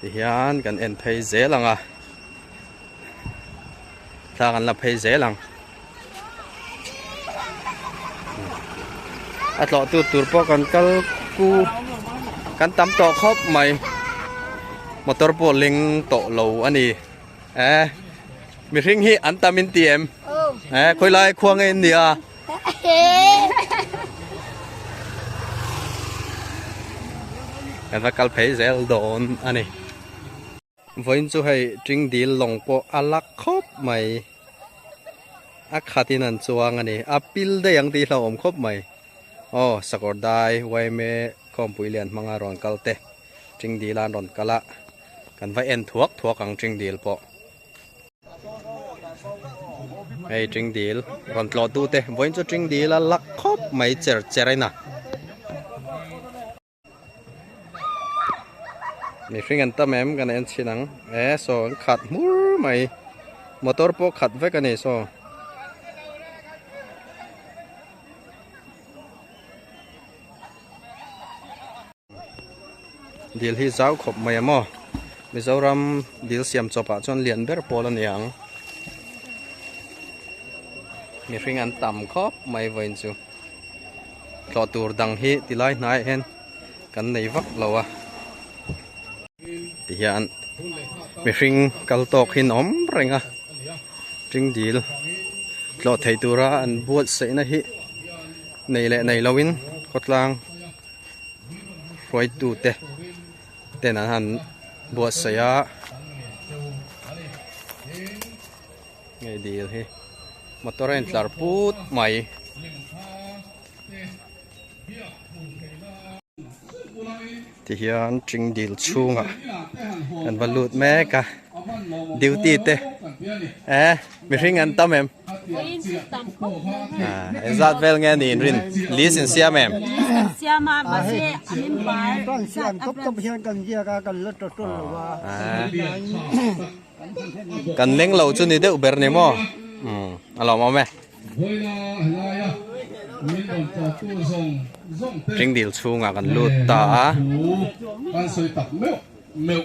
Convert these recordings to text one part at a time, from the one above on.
ti hian kan en phei zel ang a thlang an la phei zel ang a tlawh tu tur pawh kan kal ku kan tam tawh khawp mai motor pawh leng tawh lo a ni e mi hring hi an tam in ti em e khawilai khua ngei in ni a kan va kal phei zel dawn a ni vawiin chu hei ṭing dil lawng pawh a lak khawp mai a khatin an chuang a ni a pil daih ang tihla a awm khawp mai aw sakawrdai yma khawmpui lian hmanga rawn kal te ṭing dil a an rawn kal a kan va en thuak thuak ang ṭing dil pawh. Hei tring dil rawn tlawh tu te vawiin chu tring dil a lak khawp mai cher cher in a. Mihring an tam em kan en chin ang e saw an khat hmur mai motor pawh khat vek a ni saw. Dil hi zau khawp mai a maw? Mizoram dil siam chawpah chuan lian ber pawl a ni ang. Mihring an tam khawp mai vawiin chu. Thlawh tur dang hi ti lai hnaiah hian kan nei vak lo a. Ti hian mihring kal tawk hi an awm reng a. Ṭing dil thlawh thei tura an buatsaihna hi nei leh nei loin khawtlang. hruaitute ten an han buatsaih a hei dil hi motor a in tlar put mai tihian tingdil chhungah an va lut mek a. Duty te eh mihring an tam em e zat vel nge ni rin lis in siam em siam a ma se amin pai kan siam top top hian kan zia ka kan la to tol lo wa kan leng lo chu ni deuh ber ni mo um alo mo me ring dil chunga kan lut ta a kan soi tak meuh meuh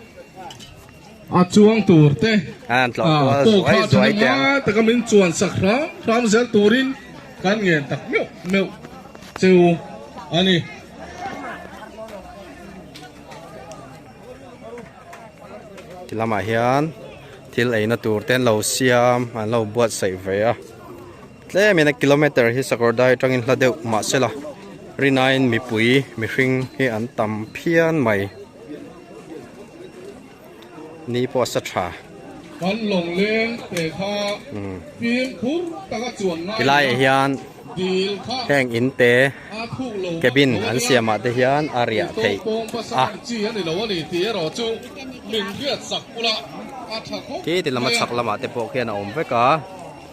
A chuang tur te pawkha thana ngai taka min chuan sak hram hram zel turin kan ngen tak meuh meuh chu a ni. Ti lamah hian thil eina tur te an lo siam an lo buatsaih ve a. Tlem in a kilometer hi Sakhawrda hi tangin hla deuh mahsela Rinain mipui mihring hi an tam phian mai ni pawh a sa tha. Kan Longleng Pekha fim phur taka chuan ngai a. Tilaiah hian heng in te cabin an siamah te hian a riah theih a. Khi ti lam a chhak lamah te pawh khian a awm vek a.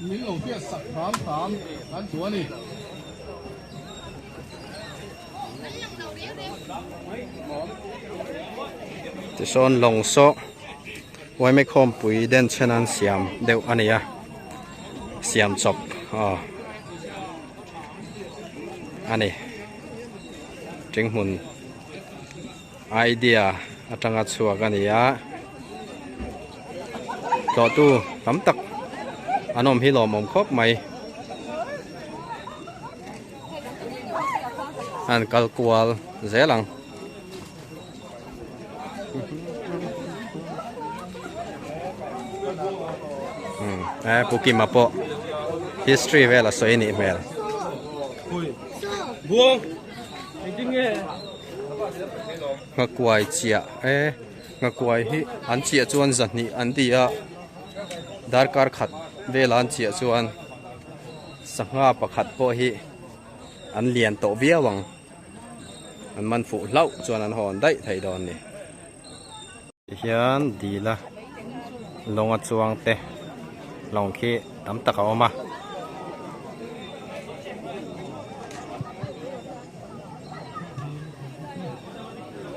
Min lo biah sak hnam hnam kan duh a ni. Tisawn long saw Ymek home pui den chen an siam deuh a nia. Siam chawp a. A ni. Tingmun. Idea atanga chhuak a ni a, tlawhtu tam tak an awm hi lawmawm khawp mai. An kal kual zel ang. Eh, Pu Kima pawh history vel a sawi a nih hmel. Nghakuai chiah e, nghakuai hi an chiah chuan zahnih an ti a, darkar khat vela an chiah chuan sangha pakhat pawh hi an lian tawh viau ang, an man fuh hlauh chuan an hawn daih thei dawn a ni. Hian dil a lawng a chuang te lawng khi tam tak a awm a.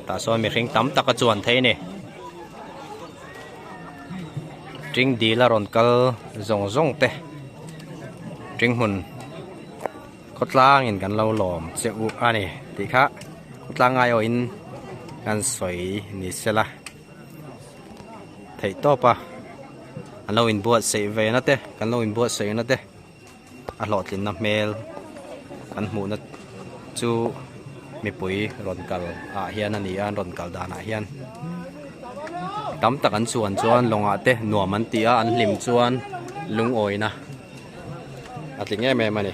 Tah sawn mihring tam tak a chuan thei ni. Ṭing dil a rawn kal zawng zawng te. Ṭing hmun. Khawtlangin kan lo lawm che u a ni tih kha khawtlang ngai awhin kan sawi ni se la, theih tawp a an lo inbuatsaih ve na te kan lo inbuatsaih na te a hlawhtlinna hmel kan hmuhna chu mipui rawn kal ah hian a ni a, an rawn kal dan ah hian tam tak an chuan chuan lawngah te nuam an ti a, an hlim chuan lungawina. a tling em em a ni.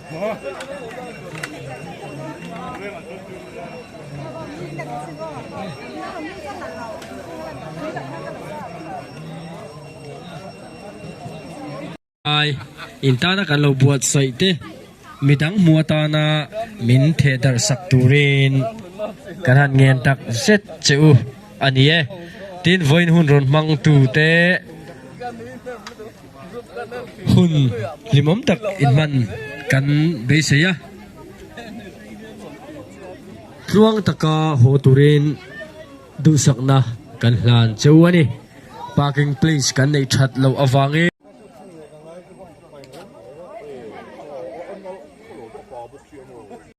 Ai in tana kan lo buat sawi te mi dang hmu atana min theh darh sak turin kan han ngen tak zet che u a ni e tin vawiin hun rawn hmang tute. Hun hlimawm tak inhman kan beisei a, tluang taka haw turin duhsakna kan hlan cheu a ni. Parking place kan neih that loh avangin.